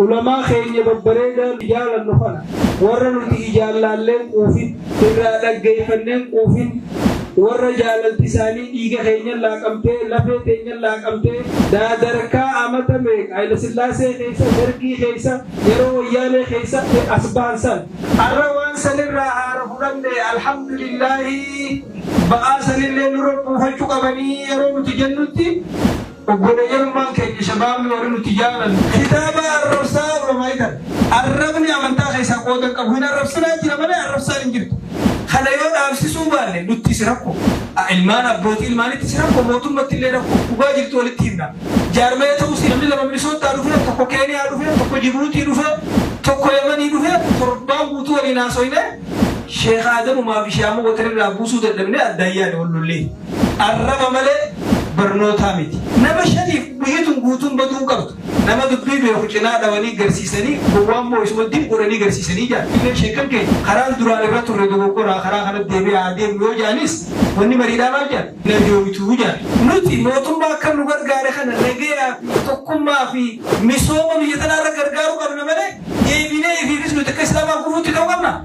Ulamaa keenya babbareedaa nu jaalannu kana warra nuti ijaan laalleen quufin, irraa dhaggeeffanneen quufin, warra jaalalti isaanii dhiiga keenyan laaqamtee, lafee teenyan laaqamtee, daadarkaa amata meeqa Hayilasillaasee keessa, Dargii keessa, yeroo Wayyaanee keessa as bahan san, arra waan san irraa haara fudhanne Alhamdulillaahii ba'aa sanillee nurra buufachu qabanii yeroo nuti jennutti, Obboleeyyanummaan keenya shabaabni warri nuti jaalannu. Kitaaba arrabsaa Oromaitan. Arrabni amantaa keessaa qooda hin qabu. Hin arrabsinaa jira malee arrabsaan hin jirtu. Kana yoo dhaabsisuu baanne nuttis rakko. A Ilmaan abbootii ilmaanittis rakko, mootummattillee rakko. Dhugaa jirtu walitti himna. Jaarmaya ta'uus namni lama Minisoottaa dhufee, tokko Keeniyaa dhufee, tokko Jibuutii dhufee, tokko Yamanii dhufee torbaan guutuu waliin haasoynee Sheekh Aadamumaa fi Sheekh Abubakar irraa buusuu dadhabnee addaan yaane wal lollee. Arraba malee barnootaa miti. Nama shaniif biyitun guutuun baduu hin qabdu. Nama dubbii beeku cinaa dhawanii garsiisanii gowwaa immoo isuma dim godhanii garsiisanii jedhan. Illee sheekkan keenya karaan duraan irra turre dogoggoraa karaa kanatti deebi'aa haa deemnu yoo jedhanis wanni mariidhaa maal jedhan? Hin arjoomituu jedhan. Nuti mootummaa akka nu gargaare kana nagayaa fi tokkummaa fi misooma biyya tanaa irra gargaaruu qabna malee deebinee ifiifis nuti akka Islaamaa gufuutti ta'uu qabnaa?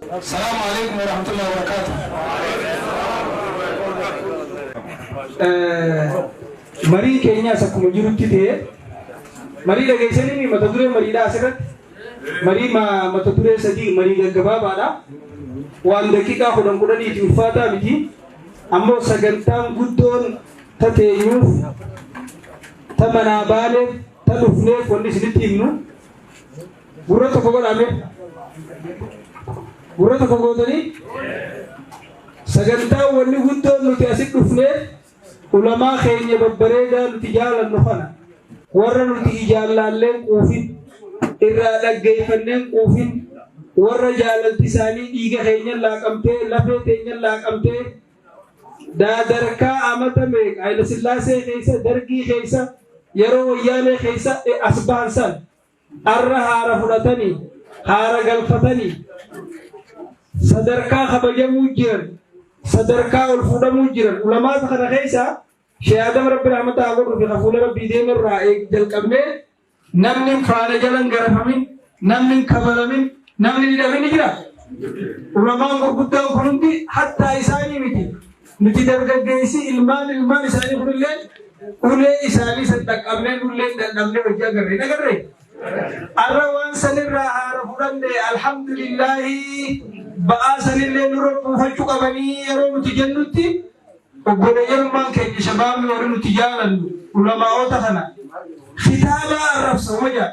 Salaam Aleeykum Warahmatullahi Wabarakatuh. Marii keenyaas akkuma jirutti ta'ee marii dhageessanii mata duree mariidhaa asirratti marii ma- mata duree sadii marii gaggabaabaadha. Waan daqiiqaa kudhan kudhaniiti ulfaataa miti. Ammoo sagantaan guddoon tateenyuuf ta manaa baaneef ta dhufneef wanni isinitti himnu Gurra tokko godhaa mee. Gurra tokko gootanii sagantaa wanni guddoon nuti asit dhufneef ulamaa keenya babbareedaa nuti jaalannu kana warra nuti ijaallaalleen quufin irraa dhaggeeffanneen quufin warra jaalalti isaanii dhiiga keenyan laaqamtee lafee teenyan laaqamtee daadarkaa amata meeqa Hayilasillaasee keessa dargii keessa yeroo wayyaanee keessa as bahan san Arra haara fudhatani, haara galfatani, sadarkaa kabajamuu jiran, sadarkaa ol fuudhamuu jiran. Ulamaata kana keessaa Sheikh Adam Rabbi rahmata haa godhuufi ka fuula Rabbii deemu irraa eeg- jalqabnee namni hin faana jala hin garafamin, namni hin kabalamin, namni hin hidhamin ni jira. Ulamaan gurguddaan kun hundi hattaa isaanii miti. Nuti dargaggeessi ilmaan ilmaan isaanii kunilleen ulee isaanii san dhaqqabnee nulleen dadhabnee hojii agarre hin agarre. Arra waan sanirraa haara fudhanne alhamdulillaahi ba'aa sanillee nurra buufachuu qabanii yeroo nuti jennutti obboleeyyummaan keenya shabaabni warri nuti jaalannu ulamaa'oota kana kitaabaa arrabsa homa jaal.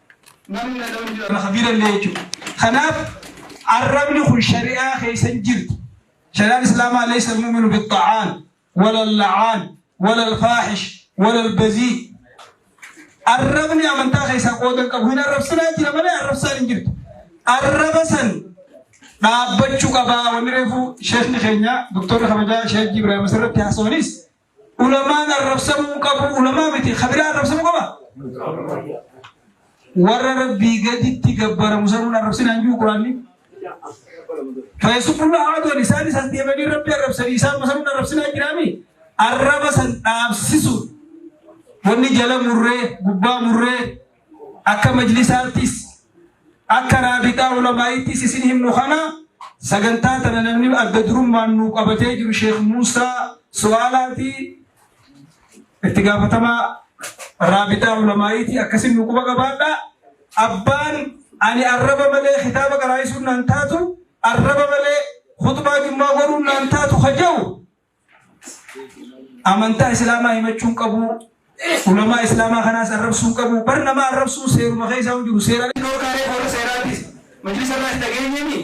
Namni dhaga'u hin jiru lafa bira illee jechuudha. Kanaaf arrabni kun shari'aa keessa hin jirtu. Shari'aan Islaamaa leessa muuminu bixxa'aan, walal la'aan, walal faahish, walal bazii. Arrabni amantaa keessaa qooda hin qabu. Hin arrabsinaa jira malee arrabsaan hin jirtu. Arraba san dhaabbachuu qabaa wanni reefu sheekni keenya doktorri kabajaa sheekh Ibrahim asirratti haasawaniis Ulamaan arrabsamuu hin qabu. Ulamaa miti. Ka biraa arrabsamuu qaba? Warra Rabbii gaditti gabbaramu sanuun arrabsina hin jiru Quraanni. Fayyisufulla haadoon isaanis as deemanii Rabbi arrabsanii isaan masanuun arrabsinaa jiraami. Arraba san dhaabsisuun wanni jala murree gubbaa murree Akka majlisaattis, akka Raabixaa Ulamaa'ittis isin himnu kana, sagantaa tana namni adda durummaan nuu qabatee jiru Sheekh Muusaa Su'aalaati. Itti gaafatamaa Raabixaa Ulamaa'iiti. Akkasiin nu quba qabaadha. Abbaan ani arraba malee kitaaba qaraa'isuun naan taatu, arraba malee khutbaa jummaa godhuun naan taatu ka ja'u, Amantaa Islaamaa himachuu hin qabu. Ulamaa Islaamaa kanaas arrabsuu hin qabu. Bar nama arrabsuu seeruma keessaa hin jiru. Seeraan hin dhorkaaree warra seeraatiis. Majlisa irraas dhageenyee mi?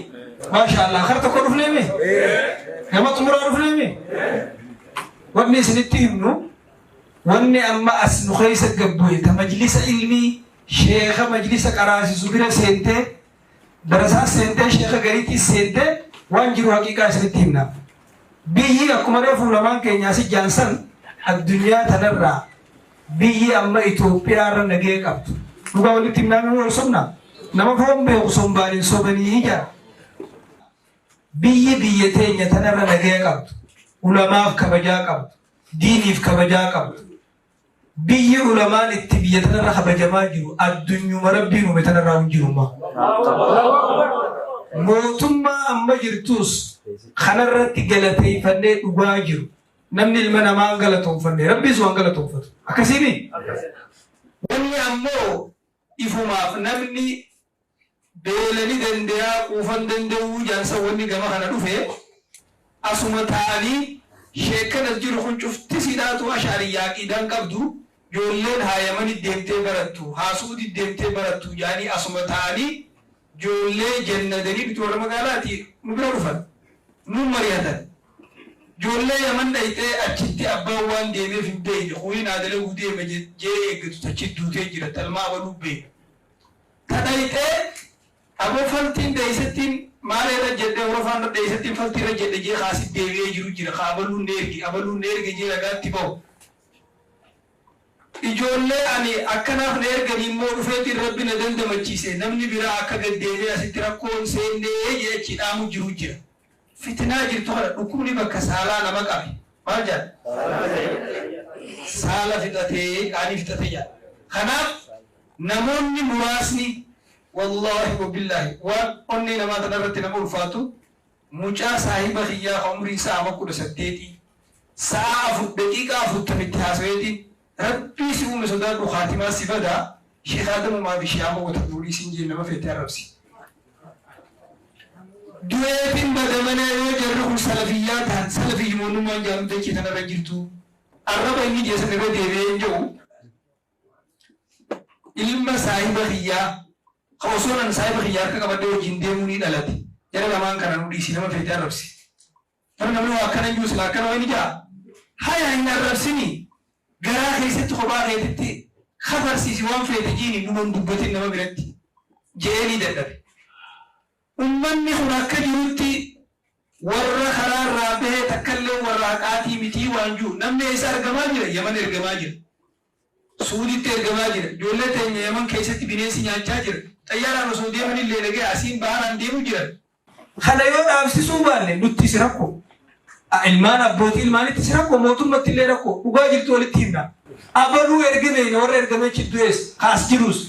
Maasha Allah. Kar tokko dhufnee mi? Nama xumuraa dhufnee mi? Wanni isinitti himnu wanni amma as nu keessa gabbu'e ta majlisa ilmii sheeka majlisa qaraasisu bira seentee Darasaa seentee sheeka gariitii seentee waan jiru haqiiqaa isinitti himna. Biyyi akkuma reefu lamaan keenya asi jaansan addunyaa tanarraa biyyi amma Itoophiyaa irra nagee qabdu. Dhugaa walitti himnaan nu sobna. Nama foon beeku sombaan hin sobanii jira. Biyyi biyya teenya tanarra nagee qabdu. Ulamaaf kabajaa qabdu. Diiniif kabajaa qabdu. Biyyi ulamaan itti biyya tanarra kabajamaa jiru addunyuma rabbiin uume tanarraa hin jirumma. Mootummaa amma jirtus kanarratti galateeffannee dhugaa jiru. Namni ilma namaa hin galatoomfanne rabbiis waan galatoomfatu. Akkasiimi? Wanni ammoo Ifumaaf namni beela ni dandeyaa quufa hin danda'uu jaarsa wanni gama kana dhufe asuma taa'anii sheekkan as jiru kun cufti siidhaatuu ash'ariyyaa aqiidaa hin qabdu joolleen haa yamani deemtee barattu haa su'udi deemtee barattu ja'anii asuma taa'anii Joollee janna danibitu warra magaalaati nu bira dhufan. Nuun marihatan. Joollee yaman dhayxee achitti abbaan waan deemeef hin beeyne kuni naa dalaguu deema jee eeggatu tachitti duutee jira talmaa abaluu beeyna. Ta dhayxee aboo faltiin dheeysattiin maal eerra jedhe horofaan irra dheeysattiin faltii irra jedhe jee ka asitti deebi'ee jiru jira ka abaluun neerge abaluun neerge jee ragaatti bahu. Ijoollee ani akkanaaf na erganii immoo dhufeetiin Rabbi na dandamachiise namni biraa akka gad deemee asitti rakkoo hin seenne jedhee achii dhaamu jiru jira. Fitinaa jirtu kana dhukkubni bakka saalaa nama qabe maal jedhan? Saala fixate qaanii fixate jedhan. Kanaaf namoonni muraasni wallaahi wabillaahi waan onnee namaa tanarratti nama ulfaatu Mucaa saahiba kiyyaa ka umriin isaa ama 18 sa'aa 4:40 itti haasaweetiin Rabbii si uume sodaadhu khaatimaan si bada Sheikh Adam Umaa fi Sheikh Amoo Watar Nuurii isiin jeen nama feete arrabsi. Du'eetiin bada malee yoo jarri kun salafiyyaa tahan salafiyyuma onnummaan jaamtu dachii tanarra hin jirtu. Arraba inni jee san irra deebi'ee hin ja'u. ilma saahiba kiyyaa ka osoon an saahiba kiyya harka qabadhee wajjiin deemuu ni dhalate. Jara lamaan kana nu dhiisi nama feete arrabsi. Bar namni waa akkana hin jiru silaa akkana wayni ja'a. Haya hin arrabsini garaa keessatti kophaa keetitti kafarsiisi waan feete jiini numa hin dubbatin nama biratti je'ee ni dadhabe. Ummanni kun akka jirutti warra karaa irraa bahe takkalleen warra haqaatii mitii waan jiru. Namni eessa argamaa jira? Yaman ergamaa jira. Suuditti ergamaa jira. Ijoollee teenya Yaman keessatti bineensi nyaachaa jira. Xayyaaraan osoo deemanillee nagaya asiin baharaan deemu jiran. Kana yoo dhaabsisuu baanne nuttis rakko. A ilmaan abbootii ilmaanittis rakko, mootummattillee rakko. Dhugaa jirtu walitti himna. Abaluu erge beekna warra ergamechi du'ees ka as jiruus.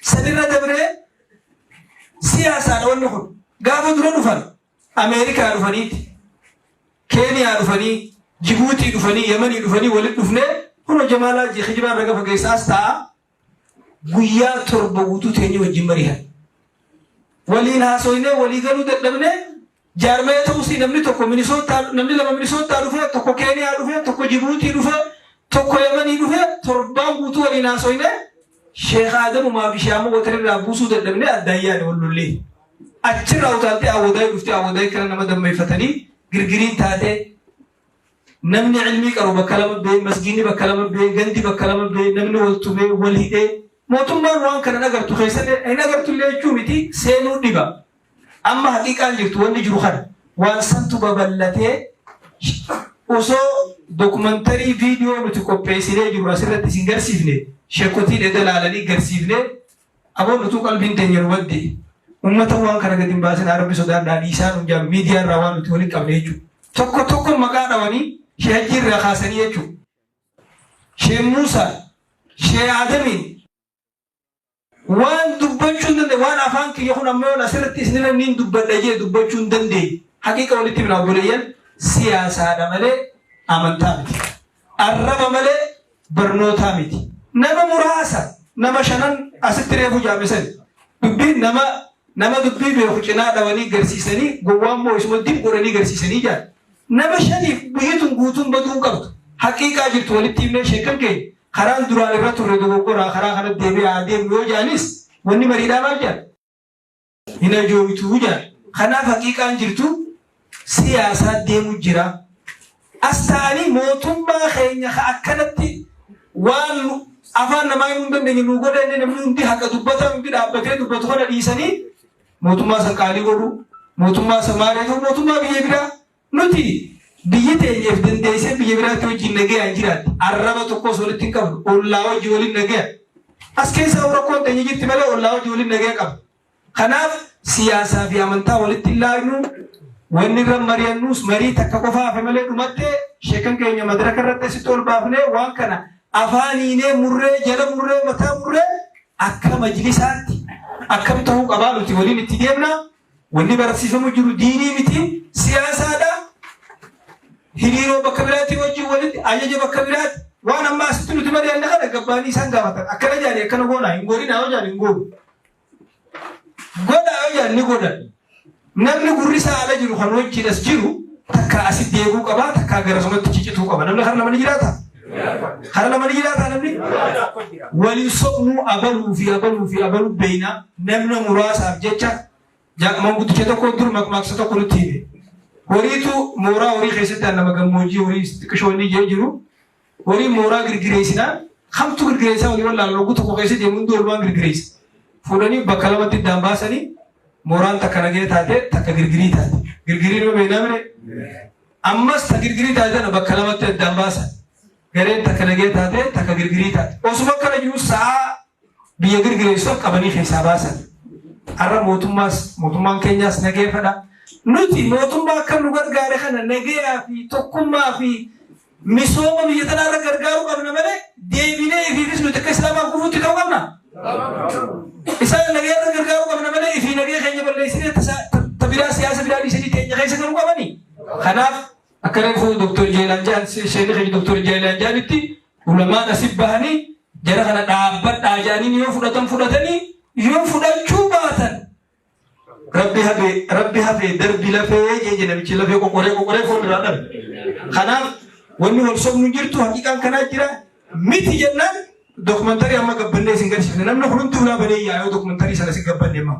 Sanirra dabree Siyaasaadha wanni kun. Gaafa dura dhufan Ameerikaa dhufaniiti. Keeniyaa dhufanii, Jibuutii dhufanii, Yamanii dhufanii walitti dhufnee kunoo Jamaalaa jee kijibaan raga fageessaa as ta'a. Guyyaa torba guutuu teenyee wajjin mari'an. Waliin haasoynee walii galuu dadhabnee Jaarmaya ta'usi namni tokko Minisootta namni lama Minisoottaa dhufee tokko Keeniyaa dhufee tokko Jibuutii dhufee tokko Yamanii dhufee torbaan guutuu waliin haasoynee Sheekh Aadamumaa fi Sheekh Abubakar irraa buusuu dadhabnee addaan yaane wal lollee. Achirraa utaaltee Awwadaay dhuftee Awwadaay kana nama dammeeffatanii girgiriin taatee namni ilmii qaru bakka lama bee masgiinni bakka lama bee gandi bakka lama bee namni wal tumee wal hidhee mootummaan waan kana hin agartu keessatti hin agartu illee jechuu miti seenuu dhiba. Amma haqiiqaan jirtu wanni jiru kana. Waan santu babal'atee osoo dokumantarii viidiyoo nuti qopheessinee jiru asirratti isin garsiifne sheekotiin eda laalanii garsiifne aboo nutuu qalbiin teenya nu badde ummata waan kana gadi hin baasinaa rabbi sodaadhaa dhiisaa nuun jaalu miidiyaa irraa waan nuti waliin qabne jechuudha. Tokko tokko maqaa dhawanii shee hajjii irraa kaasanii jechuudha. Shee Muusaa, shee Aadamiin, Waan dubbachuu hin dandeenye waan afaan kiyya kun amma yoon asirratti isinirra niin dubbadha jee dubbachuu hin dandeenye. Haqiiqa walitti himna obboleeyyan siyaasaadha malee amantaa miti. Arraba malee barnootaa miti. Nama muraasa nama shanan asitti reefu jaame sani. Dubbiin nama nama dubbii beeku cinaa dhawanii garsiisanii gowwaa immoo isuma dib godhanii garsiisanii jaan. Nama shaniif biyyi tun guutuun baduu hin qabdu. Haqiiqaa jirtu walitti himnee sheekkan keenya karaan duraan irra turre dogoggoraa karaa kanatti deebi'aa haa deemnu yoo jedhanis wanni mariidhaa maal jedhan? Hin ajooytu jedhan. Kanaaf haqiiqaan jirtu siyaasaa deemu jira. As ta'anii mootummaa keenya ka akkanatti waan nu afaan namaa himuu hin dandeenye nuu godha jennee namni hundi haqa dubbataan hundi dhaabbatee dubbatu kana dhiisanii, mootummaa isa qaalii godhu, mootummaa isa maaree ta'u, mootummaa biyya biraa nuti biyyi teenyeef dandeessee biyya biraatti wajjin nagayaan jiraatti. Arraba tokkos walitti hin qabnu. Ollaa wajji waliin nagaya. As keessaa rakkoon teenya jirti malee ollaa wajji waliin nagaya qaba. Kanaaf siyaasaa fi amantaa walitti hin laagnu. Wanni irra mari'annus marii takka qofa hafe malee dhumattee sheekan keenya madaraka irratti asitti ol baafnee waan kana afaan hiinee murree jala murree mataa murree Akka majlisaatti akkam ta'uu qabaa nuti waliin itti deemna. Wanni barsiifamu jiru diinii miti siyaasaadha. Hiriiroo bakka biraatti wajjin walitti ajaja bakka biraatti waan amma asitti nuti mari'anna kana gabbaanii isaan gaafatan akkana jaanii akkana goonaa hin goonina yoo jaan hin goonu. Godhaa yoo jaan ni godhan. Namni gurri isaa ala jiru kan wajjin as jiru takkaa asitti eeguu qaba takkaa gara sumatti cicituu qaba namni kara lama ni jiraata kara lama ni jiraata namni waliin sobnuu abaluu fi abaluu fi abaluu beeynaa namna muraasaaf jecha jaaqaman guddicha tokko dur maqmaaqsa tokko nutti hime horiitu mooraa horii keessatti nama gammoojii horii xiqqishoonni jee jiru Wari mooraa girgireessinaan kamtu girgireessaa wali wallaalan hogguu tokko keessa deemu hunduu walumaan girgireessa. Fuudhanii bakka lamatti iddaan baasanii mooraan takka nagaya taate takka girgirii taate. Girgirii nama beeknaa mire? Ammas ta girgirii taate tana bakka lamatti addaan baasan. Gareen takka nagaya taate takka girgirii taate. Osuma akkana jiru sa'aa biyya girgireessuuf qabanii keessaa baasan. Har'a mootummaas mootummaan keenyaas nageeffadha. Nuti mootummaa akka nu gargaare kana nagayaa fi tokkummaa fi Misooma biyya tanaa irra gargaaruu qabna malee deebinee ifiifis nuti akka islaamaa gufuutti ta'uu qabna. Isaan nagee irra gargaaruu qabna malee ifii nagee keenya balleessinee tabiraa siyaasa biraa dhiisanii teenya keessa garuu qabani. Kanaaf akka reefuu Dooktor Jeelaan Jaan sheekni keenya Dooktor Jeelaan Jaanitti ulamaan asif bahanii jara kana dhaabbadhaa jaaniin yoo fudhatan fudhatanii yoo fudhachuu baatan Rabbi hafee rabbi hafee darbi lafee jee jee namichi lafee qoqoree qoqoree foon irraa dhabe. Kanaaf wanni wal sobnu hin jirtu haqiqaan kanaa jira miti jennaan dokumantarii amma gabbannee isin garsiifne namni hunduu ulaa banee yaa yoo dokumantarii sana isin gabbanne immoo.